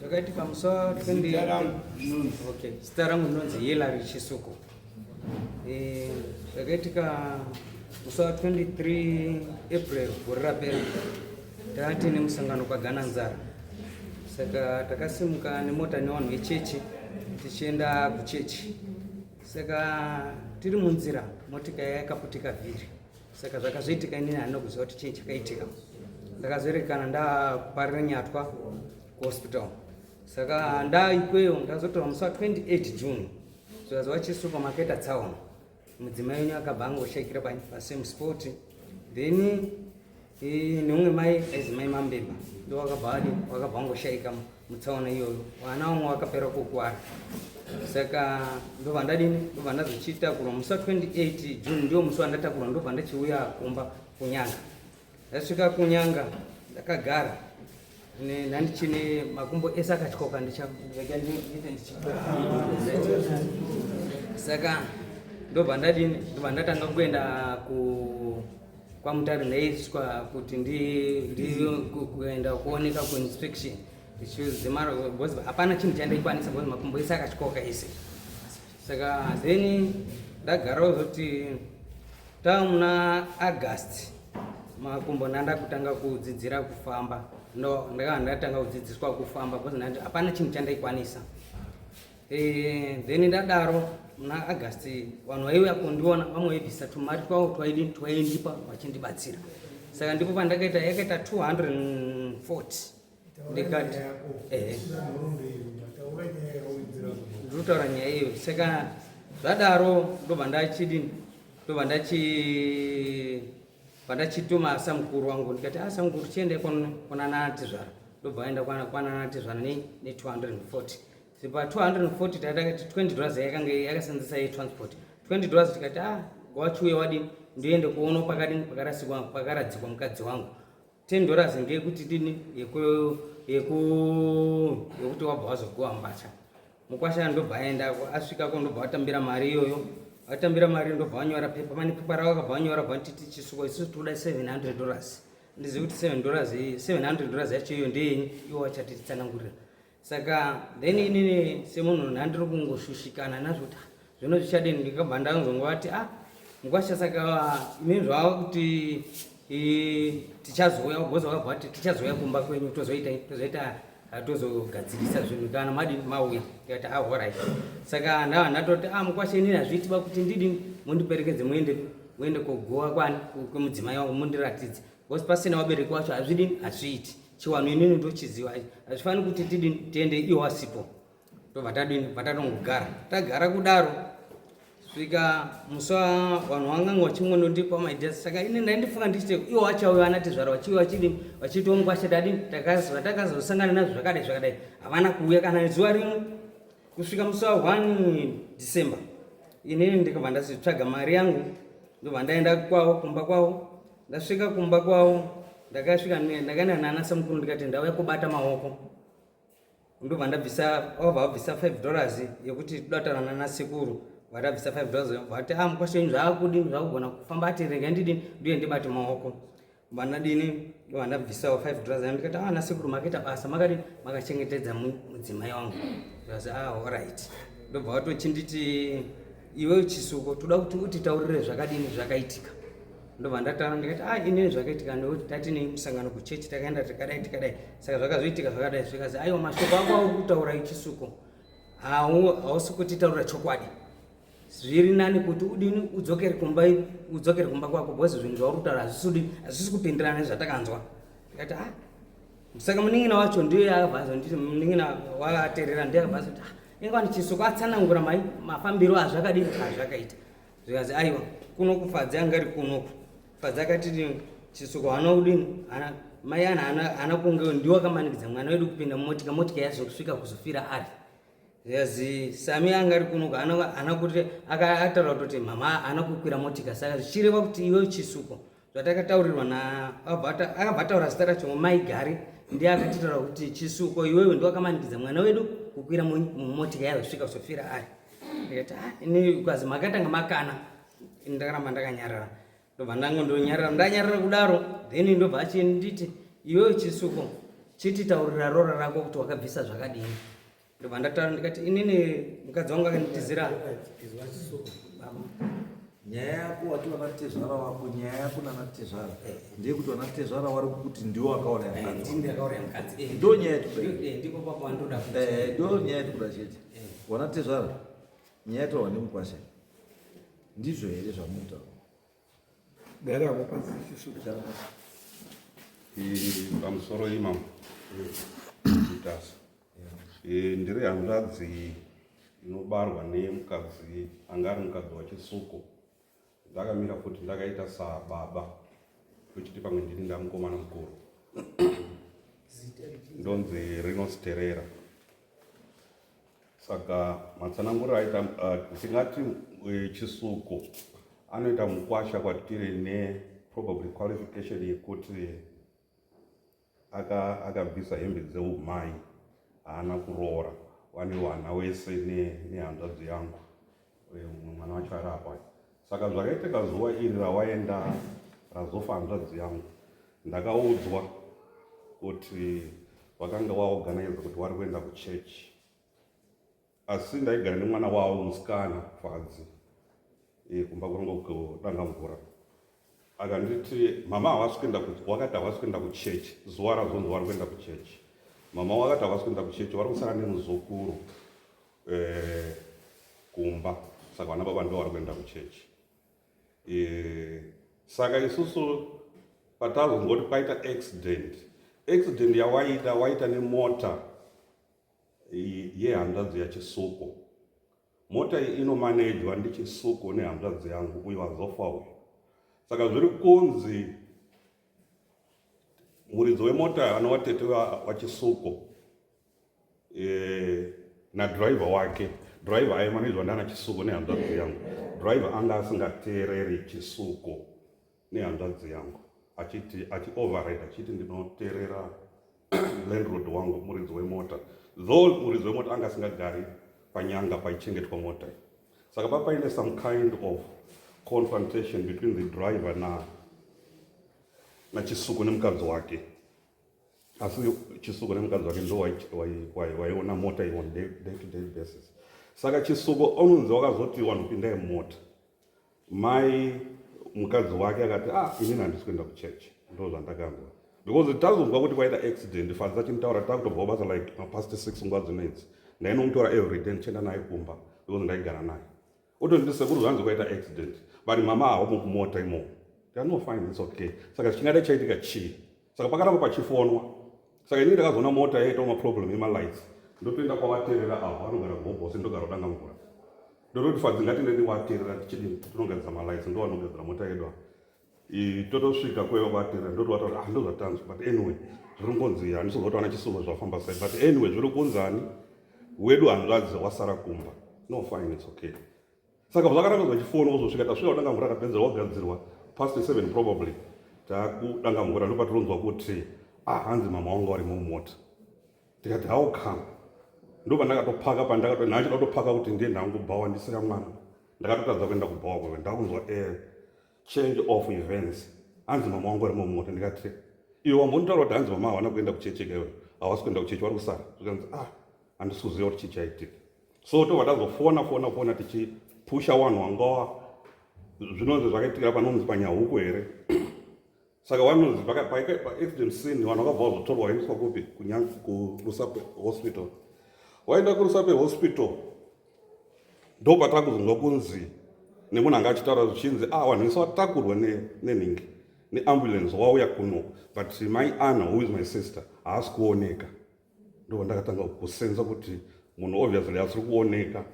Ndakaiti pamusoro okay. Zita rangu ndinonzi Hilary Chisuku. Eh, ndakaitika musi wa 23 April gore rapera taati nemusangano kwagana nzara saka takasimuka nemota nevanhu vechechi tichienda kuchechi saka tiri munzira motika yakaputika vhiri saka zvakazoitika inini handina kuziva kuti chii chakaitika ndakazoerekana ndaparira nyatwa kuhospital saka ndaikweyo ndazotora musi wa 28 june zvikazi vachisupamaketa tsaona mudzimai wenyu akabva angoshaikira pasame sport then neumwe mai aizi mai mambemba ndo wakabva adi wakabva angoshaika mutsaona iyoyo vana vamwe vakapera kukwara saka ndobva ndadini ndobva ndazochitakura musi wa 28 june ndiwo musi wandatakura ndobva ndachiuya kumba kunyanga ndasvika kunyanga ndakagara nandichine makumbo ese akatyoka ndichaega ndiite ndichitora saka ndobva ndadini ndobva ndatanga kuenda ku kwamutare ndaiswa kuti ndikuenda kuoneka kuinspection because hapana chinhu chandaikwanisa because makumbo ese akatyoka ese saka then ndagarawo zoti tava muna august makumbo ndandakutanga kudzidzira kufamba ndakava ndatanga kudzidziswa kufamba because hapana chinhu chandaikwanisa Eh, then ndadaro muna august vanhu vaiuya kundiona vamwe vaibvisa tumari twavo twaindipa vachindibatsira saka ndipo pandakaita yakaita 240 ndikati ehe ndinotaura nyaya iyo saka zvadaro ndobva ndachidini ndobva ndachi pandachituma asa mukuru wangu ndikati asa ah, mukuru tiende kwananatizvara ndobva aenda kwananatizvara ne240 tiri pa 240 tatakati 20 dollars yakange yakasenzesa yetransport 20 dollars tikati ah wachiuya wadini ndoende kuona pakadini pakarasikwa pakaradzikwa mukadzi wangu 10 dollars ngeyekuti dini yekuti wabva wazogowa mbatya mukwasha ndobva aendako asvikako ndobva watambira mari iyoyo watambira mari ndobva wanyora pepa pane pepa ravo akabva wanyora bva titi chisuko isusu tikuda 700 dollars ndizivi kuti 7 dollars 700 dollars yacho iyo ndeyenyi iwo wachati tsanangurira saka then inini semunhu ndandiri kungoshushikana nazvo kuti ah, zvino zvichadini ndikabva ndanzongovati a ah, mukwasha saka imini zvava kuti tichazouya ugoza vakabva vati tichazouya kumba kwenyu tozoita tozoita atozogadzirisa zvinhu kana madini mauya tikati ahorai ah, saka ndava ndatoti a ah, mukwashe inini hazviitiba kuti ndidini mundiperekedze muende muende kogowa kwani kwemudzimai wangu mundiratidze Because pasina wabereki wacho hazvidi hazviiti. Chiwanhu inini ndochiziva hazvifaniri kuti tidini tiende iwo asipo. Ndobva tadini patatongogara. Tagara kudaro svika musi vanhu vanganga vachingonondipa maidea saka ini ndaindifunga ndichiti iwo vachauya vanatizvara vachiuya vachidini vachitongwa chetadini vatakazosangana nazvo zvakadai zvakadai havana kuuya kana zuva rimwe kusvika musi wa one december inini ndikabva ndazitsvaga mari yangu ndobva ndaenda kwavo kumba kwavo ndasvika kumba kwavo ndakasvika ndakaenda nana samukuru ndikati ndauya kubata maoko ndobva ndabvisa vabva vabvisa five dollars yekuti todatana nana sekuru vatabvisa five dollars vati a ah, mukwasha ini zvaakudi zvakugona kufamba ati rega ndidi nduye ndibati maoko vanadini vandabvisawo five dollars a ndikati a ah, nasekuru makaita basa makadi makachengetedza mudzimai wangu ndikati a ah, oright ndobva vatochinditi iwewe chisuko toda kuti utitaurire zvakadini zvakaitika ndobva ndataura ndikati a ah, inini zvakaitika ndokuti tati nei musangano kuchechi takaenda tikadai tikadai saka zvakazoitika zvakadai zvikazi aiwa mashoko ako auri kutaura ichisuko hausi kutitaurira chokwadi zviri nani kuti udini udzokere kumba udzokere kumba kwako bcause zvinhu zvauri kutaura hazvisudi hazvisi kupindirana nezvatakanzwa ndikati a ah, Saka munin'ina wacho ndiye akabva azonditi munin'ina wakaterera ndiye akabva azoti ah, inga wani chiso kwatsanangura mai mafambiro azvakadini azvakaita zvikazi aiwa kuno kufadzi anga ari kunoku fadzi akati chisuko hana kudini hana mai ana hana hana kunge ndiwo akamanikidza mwana wedu kupinda mumotika motika yazo kusvika kuzofira ari yazi sami anga ari kunoku hana hana kuti akataura kutoti mama hana kukwira motika saka zvichireva kuti iwe chisuko zvatakataurirwa naakabva ataura zita racho mai gari ndiye akatitaura kuti chisuko iwewe ndiwakamanikidza mwana wedu kukwira mumotika yazosvika kusofira ari ndikati ah, ini ukazi makatanga makana ndakaramba ndakanyarara ndobva ndango ndonyarara ndanyarara kudaro then ndobva achinditi iwewe chisuko chititaurira rora rako kuti wakabvisa zvakadini ndobva ndataura ndikati inini mukadzi wangu akanditizira nyaya yako wati vanatezvara wako nyaya yako nanatezvara eh. ndeye kuti vanatezvara wari kuti ndiwo akaona eh, ndo nyaya yatikuda eh, ndo nyaya yatikuda chete vanatezvara nyaya yataurwa nemukwasha ndizvo here zvamunotaura Gara hapo pasi sisi kuchara pasi. Hii pamusoro imam. Nditasa. Eh ndiri hanzvadzi inobarwa nemukadzi anga ari mukadzi wachisuko. Ndakamira futi ndakaita sa baba. Kuchiti pamwe ndini ndamukomana mukuru. Ndonzi Rino Sterera. Saka matsananguriro aita uh, tingati uh, chisuko anoita mukwasha kwatiri neprobably qualification yekuti akabvisa aka hembe dzeumai haana kuroora wane wana wese nehanzvadzi ne yangu uye mumwe mwana wacho ari apa saka zvakaitika zuva iri rawaenda razofa hanzvadzi yangu ndakaudzwa kuti vakanga waorganize kuti wari kuenda kuchechi asi ndaigara nemwana wavo musikana fadzi eh, kumba kuranga kudanga mvura akanditi mama havasi kuenda wakati havasi kuenda kuchechi zuva razonzi wari kuenda kuchechi mama wakati havasi kuenda kuchechi vari kusara nemuzukuru eh, kumba saka vana baba ndo vari kuenda kuchechi eh, saka isusu patazongoti paita accident accident yawaita waita nemota yehanzvadzi yachisuko mota iyi inomanejwa ndichisuko nehanzvadzi yangu uyo azofa uyo saka zviri kunzi muridzo wemota anowatete wachisuko eh, nadriver wake driver aimanidzwa ndana chisuko nehanzvadzi yangu driver anga asingateereri chisuko nehanzvadzi yangu achiti achi override achiti ndinoteerera landroad wangu muridzi wemota though muridzi wemota anga asingagari panyanga paichengetwa mota iyi saka papaine some kind of confrontation between the driver na nachisuku nemukadzi wake asi chisuko nemukadzi wake ndo waiona mota iyo on day to day basis saka chisuko onunzi wakazoti wanhu pindai mumota mai mukadzi wake akati ah inini handisi kuenda kuchurch ndo zvandakanzwa because tazonzwa kuti kwaita accident fadza chimutaura takutobvawo basa like mapast six nguva dzinoidzi ndainomutora everyday ndichienda naye kumba because ndaigara naye Otonditi sekuru zvanzi kwaita accident vari mama hawo mukumota imo ndano fine it's okay saka chingada chaitika chii saka pakaramba pachifonwa saka inenge ndakazoona mota yaitawo maproblem emalights ndotoenda kwavaterera avo vanogara gobose ndogara kudanga mvura ndototi fadzi ngatinde ndivaterera tichidi tinogadzira malights ndovanogadzira mota yedu avo totosvika kweva kwatera ndotovatora ah, ndozvatanzwa but anyway zviri kungonzi handisozotaona chisumo zvafamba sai but anyway zviri kunzani wedu hanzvadzi wasara kumba no fine it's okay saka zvakaramba zvachifona kuzosvika tasvika kudanga mvura akapedza wagadzirwa past seven probably takudanga mvura ndopatironzwa kuti ah hanzi mama wangu vari mumota ndikati how come ndopandakatopaka pandakato naachida kutopaka kuti ndiye ndangu bhawa ndisira mwana ndakatotadza kuenda kubhawa kweve ndakunzwa air eh, change of events hanzi mama wangu ari mumota ndikati iwe wambonitaura kuti hanzi mama hawana kuenda kuchechi kaiwe hawasi kuenda kuchechi wari kusara zvikanzi ah handisi kuziva kuti chii chaitika so tobva tazofona fona fona tichipusha wanhu wangawa zvinonzi zvakaitikira panonzi panyahuku here saka wanonzi paaccident scene vanhu vakabva vazotorwa vaendeswa kupi kunyange kurusape hospital waenda kurusape hospital ndo patakuzonzwa kunzi nemunhu anga achitaura zvichinzi ah vanhu vese vatakurwa nenhingi neambulance wauya kuno but my ana who is my sister haasi kuoneka ndo ndakatanga kusenza kuti munhu obviously asiri kuoneka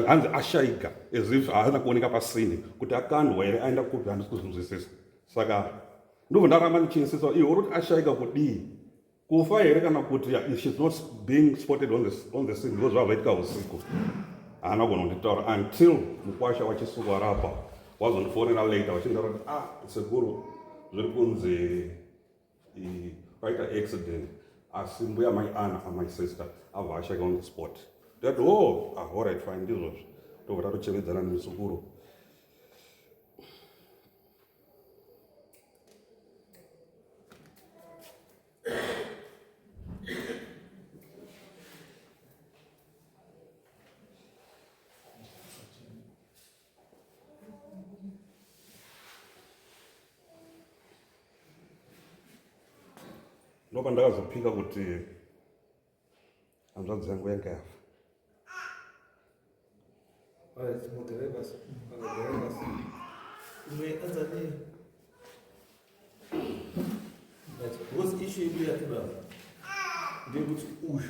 hanzi ashaiga as if haana kuoneka pasini kuti akandwa here aenda kupi handisi kuzvinzwisisa saka ndobva ndaramba ndichinsisa iwe uri kuti ashaiga kudii kufa here kana kuti shes not being spotted on the, on the scene because zvavaitika usiku haana kugona kunditaura until mukwasha wachisuku arapa wazondifonera later vachindaura kuti ah sekuru zviri kunzi paita accident asi mbuya mai ana amai sister abva ashake on the spot that o oh, ahorit ah, fine ndizvozvo tobva tatochevedzana nemuzukuru ndopa ndakazopika kuti hanzvadzi yangu yanga yafa What's the issue you have to have? They would use.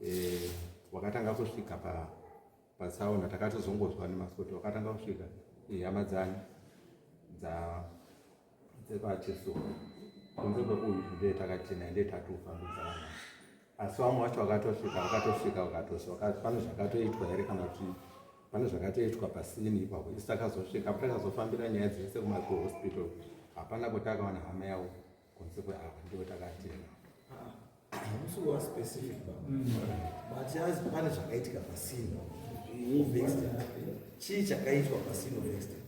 eh, wakatanga kusvika pa patsaona takatozongonzwa nemasoti wakatanga kusvika eh, hama dzani dza dzepacheso kunze kwekuyu nde takachena nde tatofambidzana asi vamwe vacho vakatosvika vakatosvika vakatosvika pane zvakatoitwa here kana kuti pane zvakatoitwa pasini ipapo isu takazosvika patakazofambira nyaya dzese kumahospital hapana kuti akawana hama yavo kunze kweapa ndiwo takatenga hamusi kuva specific ba but yazi pane zvakaitika pasino chii chakaitwa pasino vested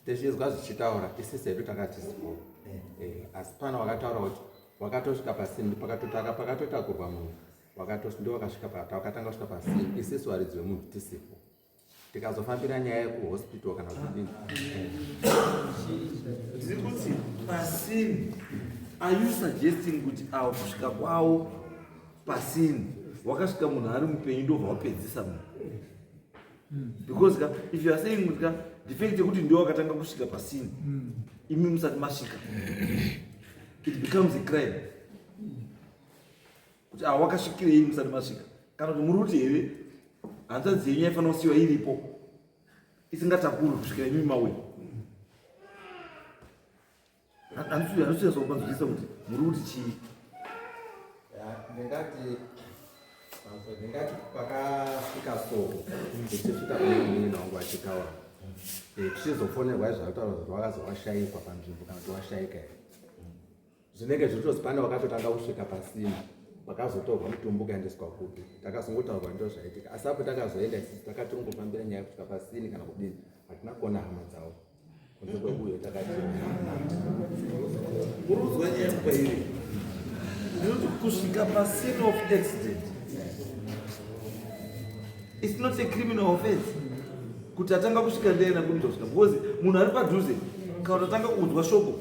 tichizwa zvichitaura isisi hedu takatisipo asi pana wakataura kuti wakatosvika pasini pakatotaka pakatotakurwa munhu wakatosvika ndiwo wakasvika pata wakatanga kusvika pasini isisi waridzi wemunhu tisipo tikazofambira nyaya yekuhospital kana kudini tiri kuti pasini are you suggesting kuti avo kusvika kwavo pasini wakasvika munhu ari mupenyu ndobva wapedzisa munhu because ka if you are saying kuti ka defect yekuti ndiwo wakatanga kusvika pasini imi musati masvika it becomes a crime kuti awa wakasvikirei musati masvika kana kuti muri kuti here hanzvadzi yenyu yaifanira kusiyiwa iripo isingatakurwi kusvikira imimi mauya handisinyasokupanzwisisa kuti muri kuti chii ndingati ndingati pakasvika so ndichisvika kuinini wangu achitaura tichizofonerwa izvakutaura kuti wakazowashaikwa panzvimbo kana kuti washaika here zvinenge zviritos pane wakatotanga kusvika pasina vakazotorwa mutumbi ukaendeswa kupi takazongotaurwa ndo zvaitika asi apo takazoenda sisi takatirongofambira nyaya kusvika pasini kana kudini hatina kuona hama dzavo kunze kwekuyo takatiuruzwa nyaya kwairi nekuti kusvika pasini of accident its not a criminal offense kuti atanga kusvika ndeyena kunitosvika because munhu ari padhuze kana kuti atanga kunzwa shoko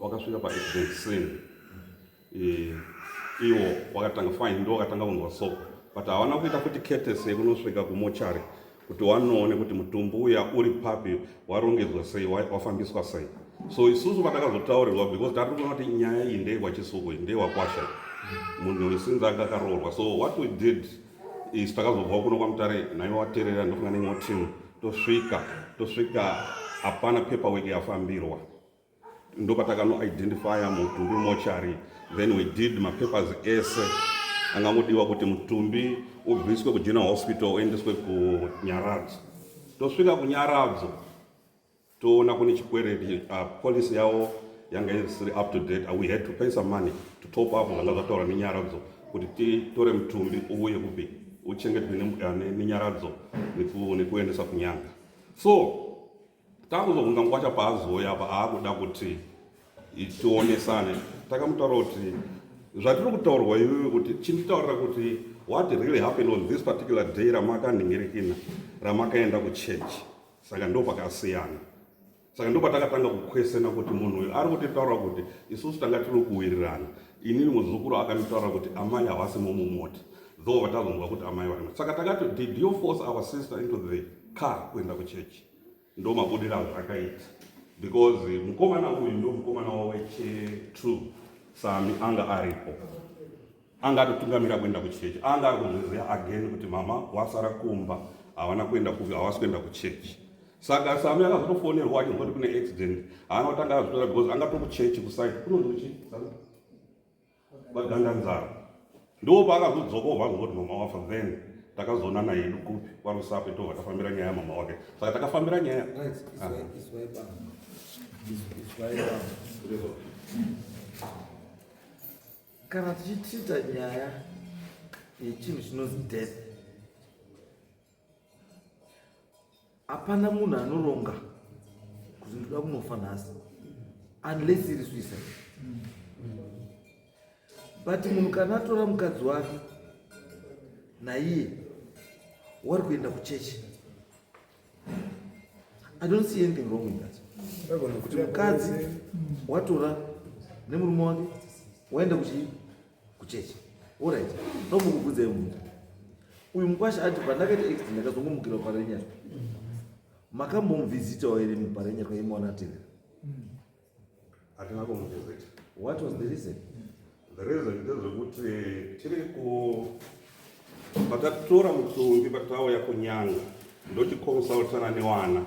wakasvika pa accident scene eh, iwo wakatanga fine ndo wakatanga kunzwa soko but havana kuita kuti ketese yekunosvika kumochari kuti wanoone kuti mutumbu uya uri papi warongedzwa sei wafambiswa sei so isusu patakazotaurirwa because tari kuona kuti nyaya iyi ndeyewachisuku ndeyewakwasha munhu wesinzi anga akaroorwa so what we did is takazobva kuno kwamutare naiva waterera ndofunga neimwe team tosvika tosvika hapana paperwork yafambirwa ndopatakanon identifya mutumbi mochari then we did mapapers ese angangodiwa kuti mutumbi ubviswe kugeneral hospital uendeswe kunyaradzo tosvika kunyaradzo toona kune chikwereti uh, policy yavo yanga isiri up to date we had to pay some money to top up zvanga zvataura nenyaradzo kuti titore mutumbi uye kupi uchengetwe uh, nenyaradzo nekuendesa kunyanga so Takuzobvunza mukwacha paazouya apa aakuda kuti tionesane takamutaura kuti zvatiri kutaurwa iwewe kuti chinditaurira kuti what really happened on this particular day ramakandingirikina ramakaenda kuchurch saka ndo pakasiyana saka ndo patakatanga kukwesena kuti munhu uyu ari kutitaura kuti isusu tanga tiri kuwirirana inini muzukuru akanditaura kuti amai havasi momumoti though vatazonzwa kuti amai vari saka takati did you force our sister into the car kuenda kuchechi ndo mabudira azvakaita because mukomana uyu ndo mukomana waweche true sami anga aripo anga atotungamira kuenda kuchechi anga ari kuzviziva again kuti mama wasara kumba havana kuenda kuvi havasi kuenda kuchechi saka sami akazotofonerwa achinzwa kuti kune accident haana kutanga azvitora because anga tokuchechi kuside kunonzi kuchii vaganganzara ndiwo paakazodzoka obva azongoti mama wafa then takazoonana yedu kupi kwarusape tobva tafambira nyaya mama wake saka takafambira nyaya kana tichitreata nyaya yechinhu chinonzi death hapana munhu anoronga kuti ndoda kunofa nhasi unless iri suicide but munhu kana atora mukadzi wake naiye wari kuenda kuchechi i don't see anything wrong with that kuti mukadzi watora nemurume wake waenda kuchii kuchechi orit ndomukubvudzai munhu uyu mukwasha ati pandakaita accident ndakazongomukira parenyara makambomuvhizitawo here muparenyara kwaimaona atevera atingakomuvhizita what was the reason the reason ndezvekuti tiri ku patatora mutumbi patauya kunyanga ndochiconsultana nevana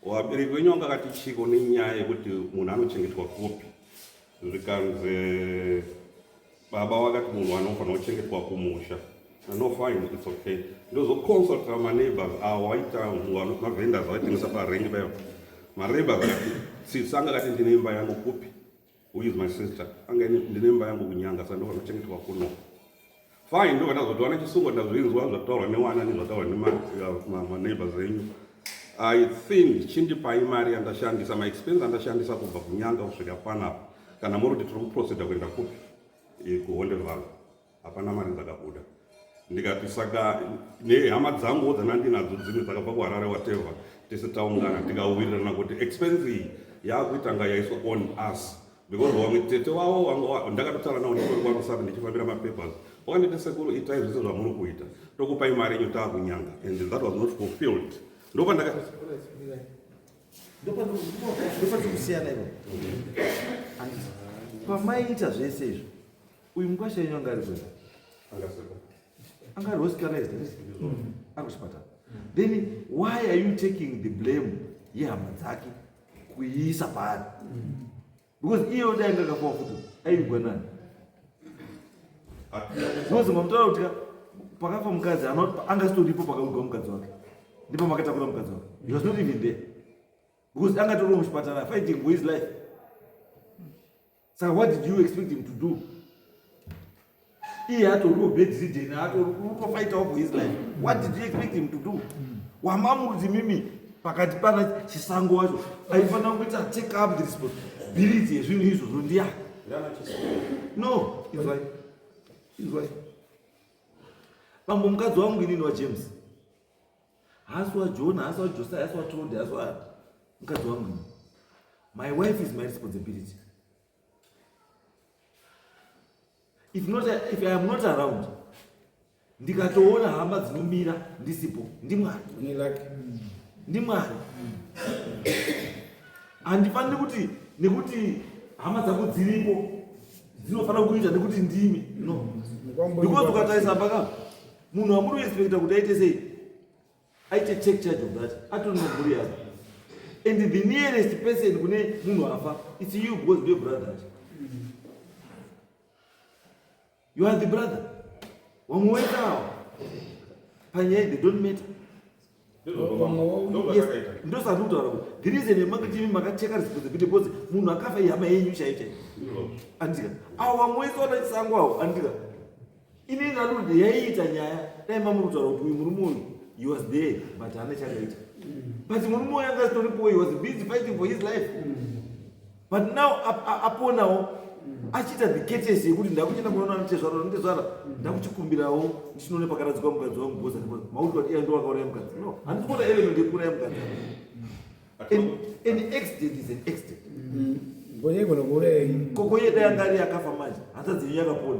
wabereki wenyu vanga akati chiko nenyaya yekuti munhu anochengetwa kupi zvikanzi baba vakati munhu anofanira kuchengetwa kumusha no fine its okay ndozoconsulta maneighbors awo aita mavendors avaitengesa parengi payo maneighbors akati sisi anga kati ndine imba yangu kupi who is my sister anga ndine imba yangu kunyanga sa ndofanira kuchengetwa kuno fine ndobva ndazotowana chisungo ndazvinzwa zvataurwa newana nezvataurwa nemaneighbors uh, enyu i think chindipai mari yandashandisa maexpense andashandisa kubva kunyanga kusvika panapa kana muri kuti tiri kuproceda kuenda kupi kuhonde valo hapana mari dzakabuda ndikati saka nehama dzanguwo dzanandinadzo dzimwe dzakabva kuharare wateva tese taungana tikauwirirana kuti expense iyi yakuitanga yaiswa on us because vamwe tete wavo vanga ndakatotaura navo ndikori kwangu saka ndichifambira mapapers wakandiita sekuru itai zvese zvamuri kuita tokupai mari yenyu taakunyanga and that was not fulfilled ndopandaka ndopatikusiyana ivo pamaiita zvese izvo uyu mukwasha yenyu anga ari kwena anga ari hospitalized ari kuchipatara then why are you taking the blame yehama dzake kuiisa paari because iye kuti ainge akafa futi aivigwa nani because mamutaura kuti pakafa mukadzi anga sitoripo pakavigwa mukadzi wake ndipo makatakura mukadzi wake he was not even there because anga toriwo muchipatara fighting for his life saka what did you expect him to do iye atoriwo bedridden atorikutofaitawo for his life what did you expect him to do mm. wamamurudzi mimi pakati pana chisango wacho aifanira kuita take up the responsibility yezvinhu izvozvo ndiya no izwai izwai bambo mukadzi wangu inini wajames Haasi waJona, haasi waJosaya, haasi waTrode, haasi wa mukadzi wangu. My wife is my responsibility. If not, if I am not around, ndikatoona hama dzinomira ndisipo ndimwari ndimwari handifaniri kuti nekuti hama dzangu dziripo dzinofanira kuita nekuti ndimi no because ukatarisa paka munhu amuri respecta kuti aite sei aite take charge of that atoni maburi yavo and the nearest person kune munhu afa its you because ndiyo brother acho you are the brother wamwe wetawo panyaya they don't matter ndosati kutaura kuti the reason yemangitimi makacheka risipodze kuti bcause munhu akafa ihama yenyu chaiyo chaiyo andika awo vamwe wese wana chisango awo andika inenge anoti yaiita nyaya dai mamuri kutaura kuti uyu murume uyu he was there but haana chakaita but murume uyu anga asitoripowo he was busy fighting for his life mm. but now aponawo achiita the ketesi yekuti ndakuchenda kunoona anotezvara anotezvara ndakuchikumbirawo ndichinoone pakaradzikwa mukadzi wangu bhoza because mauti wati iya ndowakauraya mukadzi no handisi kuona element yekuuraya mukadzi an accident is an accident mm. kokoye dai anga ari akafa manje hanzadzi yenyu yakapona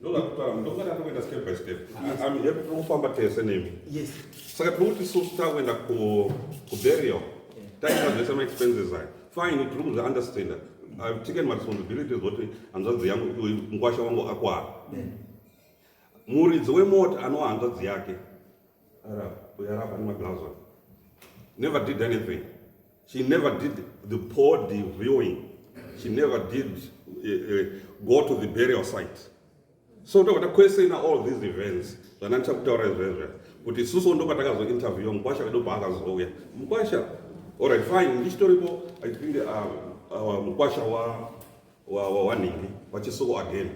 ndoda kutaura mudhokota tinoenda step by step am happy tiri kufamba tese nemi yes saka tiri kuti susu takuenda kuburial taita zvese maexpenses ayo fine tiri kuzviunderstanda i've taken my responsibilities kuti hanzvadzi yangu mukwasha wangu akwara muridzi wemota anowa hanzvadzi yake uyarapa ane magloves on never did anything she never did the body viewing she never did uh, uh, go to the burial site so ndokuda kwese ina all these events zvana ndichakutaura izvezve kuti isusu ndo patakazointerviewa mukwasha vedu paakazouya mukwasha orit fine ndichitoripo i think uh, uh, mukwasha wanhingi wachisuko again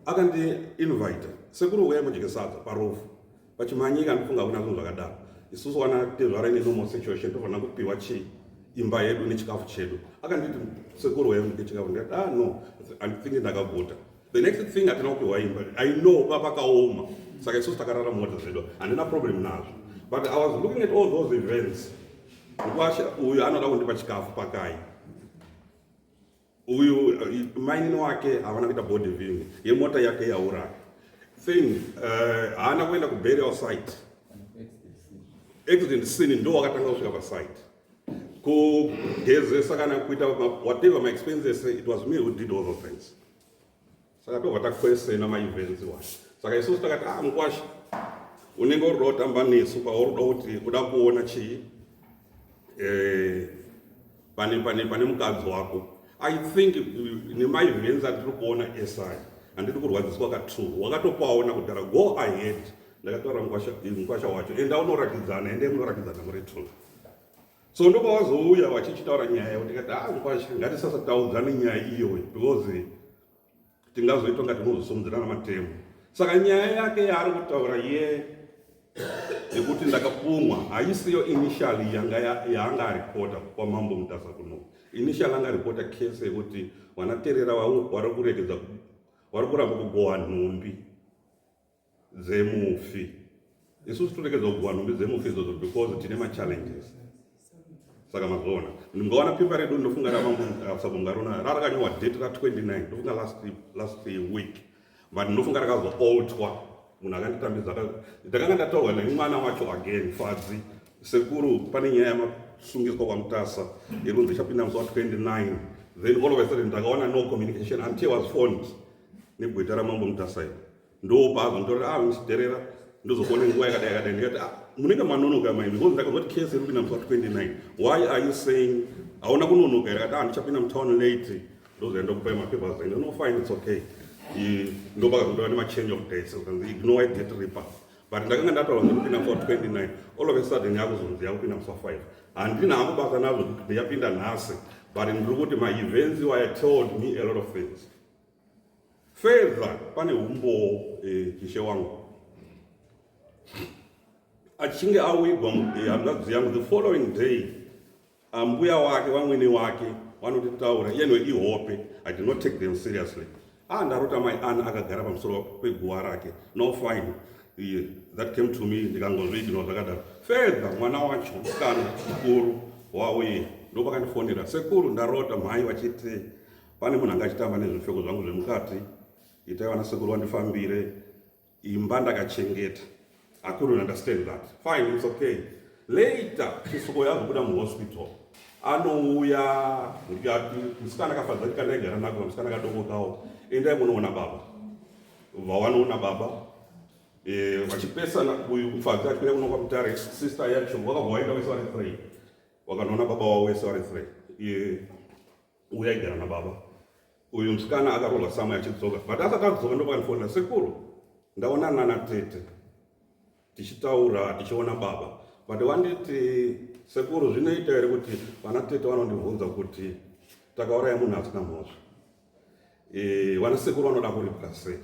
akandi invite sekuru uya mudyike sadza parufu vachimhanyika ndofunga kuna zvinhu zvakadaro isusu wana tezvara ine normal situation tofanira kupiwa chii imba yedu nechikafu chedu akanditi sekuru waive muke chikafu ndikati ah no andithingi ndakaguta the next thing hatina kupiwa imba i know papakaoma saka isusu takarara mota zvedu handina problem nazvo but i was looking at all those events ukwasha uyu anoda kundipa chikafu pakai uyu uh, mainini wake havana kuita body viewing yemota yake yaura thing uh, haana uh, kuenda kuburial site accident scene ndo wakatanga kusvika pasite kugezesa kana kuita whatever my expenses it was me who did all those things saka tobva takwesena maivenzi wa saka isusu takati ah mukwasha unenge uri kuda kutamba nesu kwauri kuda kuti kuda kuona chii eh, pane pane pane mukadzi wako i think uh, nemaivenzi atiri kuona esai handiti kurwadziswa katru wakatopaona kudhara go ahead ndakataura mukwasha wacho enda unorakidzana ende munorakidzana muri two so ndopavazouya vachichitaura nyaya yavo tikati haa zvikwazvo ngatisasataudzane nyaya iyoyi because tingazoitwa nga tinozosumudzirana matemo saka nyaya yake yaari kutaura ye yekuti ndakapumwa haisiyo initially yanga yaanga aripota kwamambo mutasa kuno initially anga aripota case yekuti vanaterera vari kuregedza vari kuramba kugohwa nhumbi dzemufi isusu toregedza kuguha nhumbi dzemufi izvozvo because tine machallenges saka mazviona ndingaona pepa redu ndofunga ravamusabonga rona rarakanyorwa date ra 29 ndofunga last week but ndofunga rakazoaltwa munhu akanditambidza ndakanga ndataurwa nemwana wacho again fadzi sekuru pane nyaya yamasungiswa kwamutasa yekunzi ichapinda musi wa 29 then all of a sudden ndakaona no communication until was phoned negweta ramambo mutasa iro ndopazvo nditaura ah ndidherera ndozokuona nguva yakadai yakadai ndikati ah munenge manonoka mai because ndakaona kuti case iripinda musi wa 29 why are you saying hauna kunonoka here kati ah ndichapinda mutown late ndozoenda kupai mapapers and no fine it's okay ndopakazondova nemachange of dates ukanzi ignore it get reaper but ndakanga ndataura ndikupinda musi wa 29 all of a sudden yakuzonzi yakupinda musi wa 5 handina hangu basa nazvo yapinda nhasi but ndiri kuti maevents iwaya told me a lot of things Fedha pane humbowo eh, ishe wangu achinge awigwa eh, hanzvadzi yangu the following day ambuya wake vamwene wake vanotitaura yenwe ihope i did not take them seriously ah ndarota mai ana akagara pamusoro peguva rake no fine yeah, that came to me ndikangozviiginwa zvakadaro fedha mwana wacho kana mukuru wauye ndopakandifonera sekuru ndarota mhai vachiti Pane munhu anga achitamba nezvipfeko zvangu zvemukati, itai vana sekuru vandifambire imba ndakachengeta. I couldn't understand that. Fine, it's okay. Later, Chisoko yakubuda muhospital. Anouya ndikati musikana akafadza kuti kana igara nako musikana akadokokawo. Endai munoona baba. Vawanoona baba. Eh, vachipesana uyu mfadzi achikuenda kuno kwamutare sister yacho wakabva waenda wese vari three. Wakanoona baba wavo wese vari three. Eh, uya aigara nababa uyu musikana akarohwa samwe achidzoka but asati adzoka ndopanifonera sekuru ndaonana natete tichitaura tichiona baba but wanditi sekuru zvinoita here kuti vana tete vanondibvunza kuti takauraya munhu asina mhosva e, vana sekuru vanoda kuripwa sei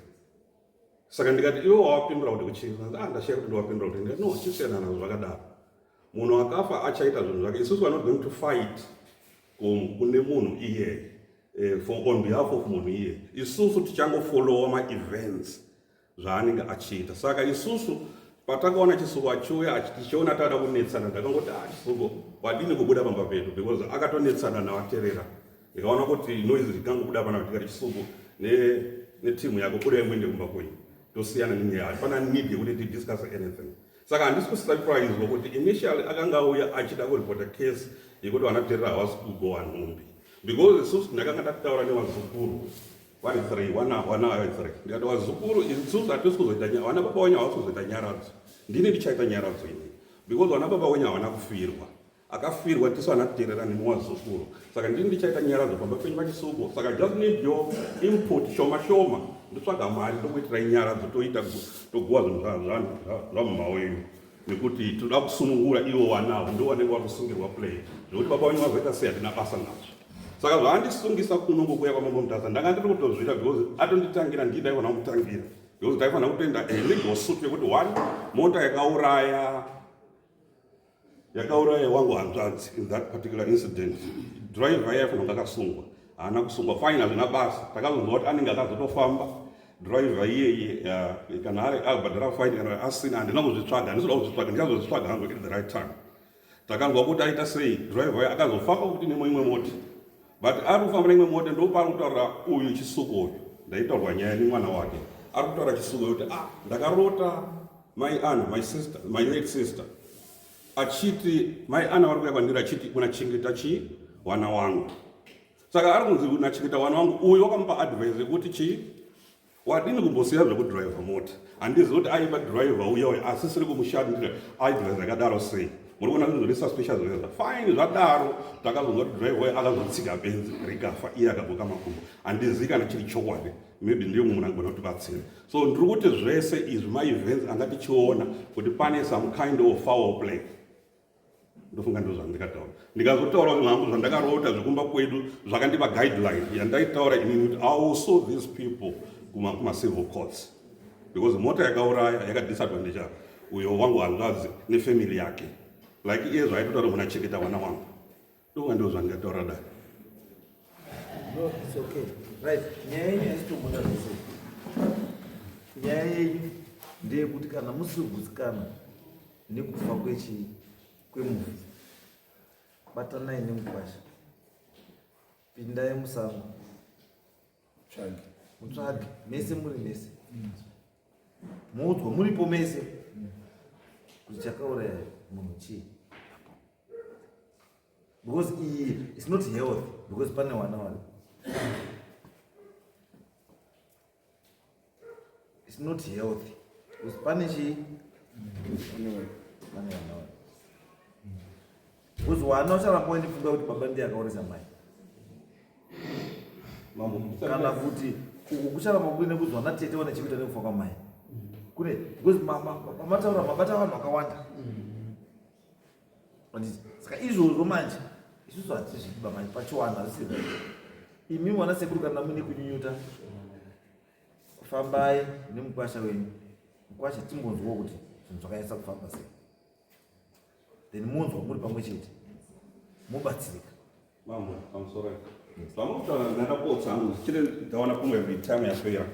saka ndikati iwe wawapindura kuti kuchii ah, ndashaya kuti ndiwapindura kuti ndikati no chisiyanana zvakadaro munhu akafa achaita zvinhu zvake isusu we're not going to fight kune munhu iye eh, for on behalf of munhu iye isusu tichangofollowa maevents zvaanenge achiita saka isusu patakaona chisuko achiuya tichiona taada kunetsana takangoti ah chisuko wadini kubuda pamba pedu because akatonetsana navaterera ndikaona kuti noise rikangobuda pana tikati chisuko netimu yako buda imwende kumba kwenyu tosiyana nenyaya hapana need yekuti tidiscuss anything saka handisi kusurpriswa kuti initially akanga auya achida kuripota case yekuti vanaterera havasi kugowa nhumbi because isusu ndakanga ndakutaura nevazukuru vari three wana wana vari three ndikati vazukuru isusu hatisi kuzoita vana baba wenyu havasi kuzoita nyaradzo ndini ndichaita nyaradzo ini because vana baba wenyu havana kufirwa akafirwa tisu hana kuterera nemi wazukuru saka ndini ndichaita nyara dzopamba penyu vachisuko saka just need your input shoma shoma ndotsvaga mari ndokuitirai nyara dzotoita toguwa zvinhu zvamumhawo ino nekuti tinoda kusunungura ivo wanawo ndo wanenge wakusungirwa play zvekuti baba wenyu vazoita sei hatina basa nazvo saka zvaandisungisa kuno kokuya kwamambo mutasa ndanga ndiri kutozvita because atonditangira ndii ndaifanira kumutangira because ndaifanira kutoenda legal suit yekuti one mota yakauraya yakauraya wangu hanzvadzi in that particular incident driver yaye fanonga akasungwa haana kusungwa fine hazvina basa takazonzwa kuti anenge akazotofamba driver iyeye kana ari abhadhara fine kana asina handina kuzvitsvaga handizoda kuzvitsvaga ndichazozvitsvaga hangu at the right time takanzwa kuti aita sei driver yaye akazofamba kuti nemwe imwe mota but ari kufamba neimwe mota ndopaari kutaura uyu chisuko uyu ndaitaurwa nyaya nemwana wake ari kutaura chisuko yokuti ah ndakarota Mai Anna, my sister, my late sister achiti mai Anna vari kuya kwandiri achiti unachengeta chii wana wangu saka ari kunzi unachengeta wana wangu uyu wakamupa advice yekuti chii wadini kumbosiya zvekudriver mota handizi kuti aiva driver uya uya asisiri kumushandira advice yakadaro sei muri kuona kuti zvese special zveza fine zvadaro takazonzwa kuti driver uya akazotsika benzi rikafa iye akabuka makumbo handizi kana chiri chokwadi maybe ndiyo mumwe anogona kutibatsira so ndiri kuti zvese izvi maevents anga tichiona kuti pane some kind of foul play ndofunga ndo zvandikataura ndikazotaura zvinhu hangu zvandakarota zvekumba kwedu zvakandipa guideline yandaitaura ini kuti also these people kumacivil courts because mota yakauraya yakadisadvantage apa uyo wangu hanzvadzi nefamily yake like iye zvaitotaura muna cheketa vana wangu Ndonga ndo zvandingataura dai. No, it's okay. Right. Nyaya yenyu haisitobuda zvese. Nyaya yenyu ndeyekuti kana musiri kugutsikana nekufa kwechi kwemufi batanai nemukwasha pindai musango tsvage mutsvage mese muri mese mm. moudzwa muripo mese mm. kuti chakauraya munhu chii because iyi it's not health because pane wana wana it's not health because pane chi pane wana wana because wana ucharamba wendifunga kuti baba ndiye akaurisa mai kana kuti uku kucharamba kuine kuzwa na tete wane chikuita nekufa kwamai kune because mataura mabata vanhu vakawanda mm. saka izvozvo manje isusu hatizviba manje pachiwanhu hazvisiri imi mwana sekuru kana mune kunyunyuta fambai nemukwasha wenyu mukwasha timbonzwawo kuti zvinhu zvakanyatsa kufamba sei then munzwa muri pamwe chete mobatsirika Mambo, I'm sorry. Zvamutaura ndakapotsa hangu ndichiri ndaona kumwe time yapera.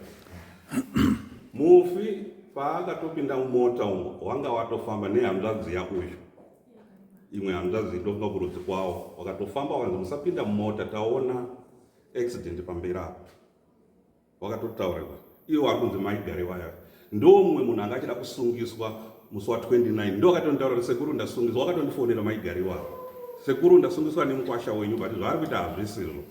Mufi paakatopinda mumota umo wanga watofamba nehanzvadzi yako izvo. Imwe hanzvadzi ndofunga kurudzi kwawo wakatofamba wakanzi musapinda mumota taona accident pamberi apo. wakatotaurirwa iwe wari kunzi mai gare waya ndomumwe munhu anga achida kusungiswa musi wa 29 ndo akatonitaurira sekuru ndasungiswa wakatondifonera mai gare waya sekuru ndasungiswa nemukwasha wenyu but zvaari kuita hazvisizvo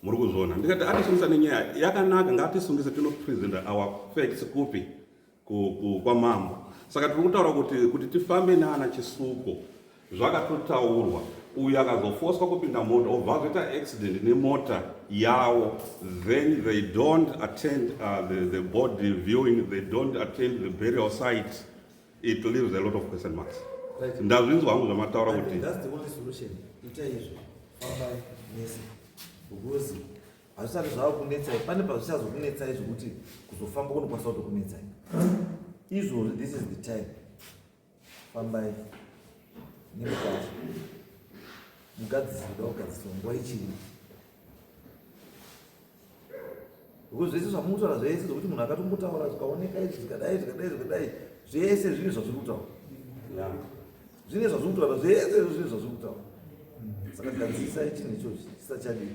muri kuzviona ndikati atisungisa nenyaya yakanaka ngatisungise tinopresenta our facts kupi kwamambo saka tiri kutaura kuti kuti tifambe naana chisuko zvakatotaurwa uyu akazofoswa kupinda mota obva azoita accident nemota yawo then they don't attend uh, the, the body viewing they don't attend the burial site it leaves a lot of question marks right. ndazvinzwa hangu zvamataura kuti hazvisati zvava kunetsai pane pazvichazokunetsai zvekuti kuzofamba kunokwanisa kutokunetsai izvozvi this is the time fambai nemukati mugadzisirida kugadziswa nguva ichiri because zvese zvamukutaura zvese zvekuti munhu akatombotaura zvikaoneka izvi zvikadai zvikadai zvikadai zvese zvinhu zvazviri kutaura zvine zvazviri kutaura zvese izvo zvine zvazviri kutaura saka gadzisai chinhu ichochi chisachadii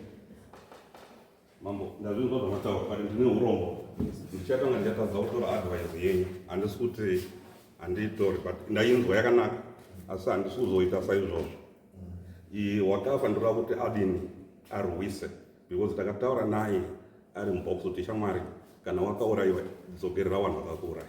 mambo ndazvinzwa zvamataura but ndine urombo ndichatanga ndichatadza kutora advise yenyu handisi kuti handiitori but ndainzwa yakanaka asi handisi kuzoita saizvozvo wakafa ndoda kuti adini arwise because takataura naye ari mubox kuti shamwari kana wakaurayiwa dzokerera vanhu vakakuuraya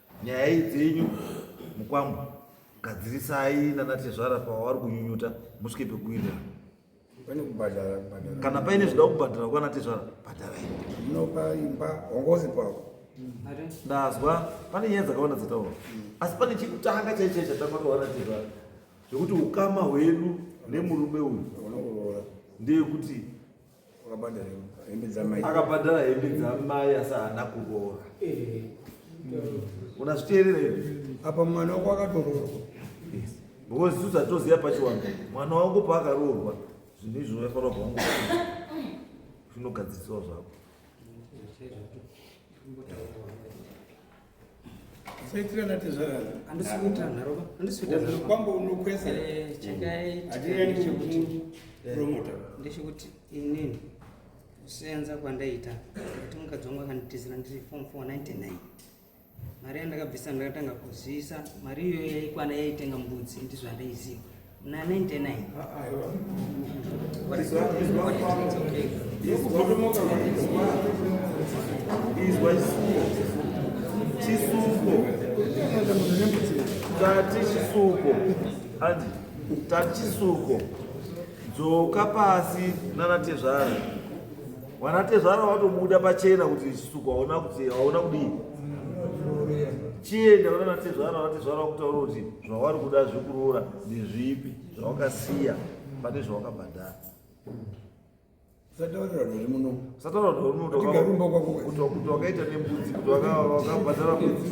nyaya iyi dzenyu mukwambo gadzirisai nanatezvara pavari kunyunyuta musvike pekuwirira pane kubhadhara kubhadhara kana paine zvida kubhadhara kwana tezvara bhadharai munopa imba hongozi pavo ndazwa pane nyaya dzakawanda dzataura asi pane chekutanga chaichai chatanga tawana tezvara zvekuti ukama hwedu nemurume uyu ndeyekuti akabhadhara hembe dzamai asi haana kuroora unazviteerera ivi apa mwana wako akatoroorwa because isu zatoziva pachiwangu mwana wangu paakaroorwa zvinhu izvi unofanira kubva wangu zvinogadziriswa zvako Saitira na tezvara. Andisi kuita nharo ba. Andisi kuita nharo. Kwambo unokwesa. Eh, chekai. Adira ni chekuti. Eh, Promoter. Ndechekuti inini kusenza kwandaita kuti mukadzi wangu akanditizira ndiri form 499 mari yandakabvisa ndakatanga kuzivisa mari iyoyo yaikwana yaitenga mbudzi ndizvo andaiziva tati chisuko andi tati chisuko dzoka pasi nanatezvara Vanatezvara vatobuda pachena kuti suku hauna kuti hauna kudii chienda kuna natezvara vatezvara vakutaura kuti zvavari kuda zvekuroora ndezvipi zvawakasiya pane zvawakabhadhara sataurira rori muno sataurira rori muno kuti wakaita nembudzi kuti wakabhadhara mbudzi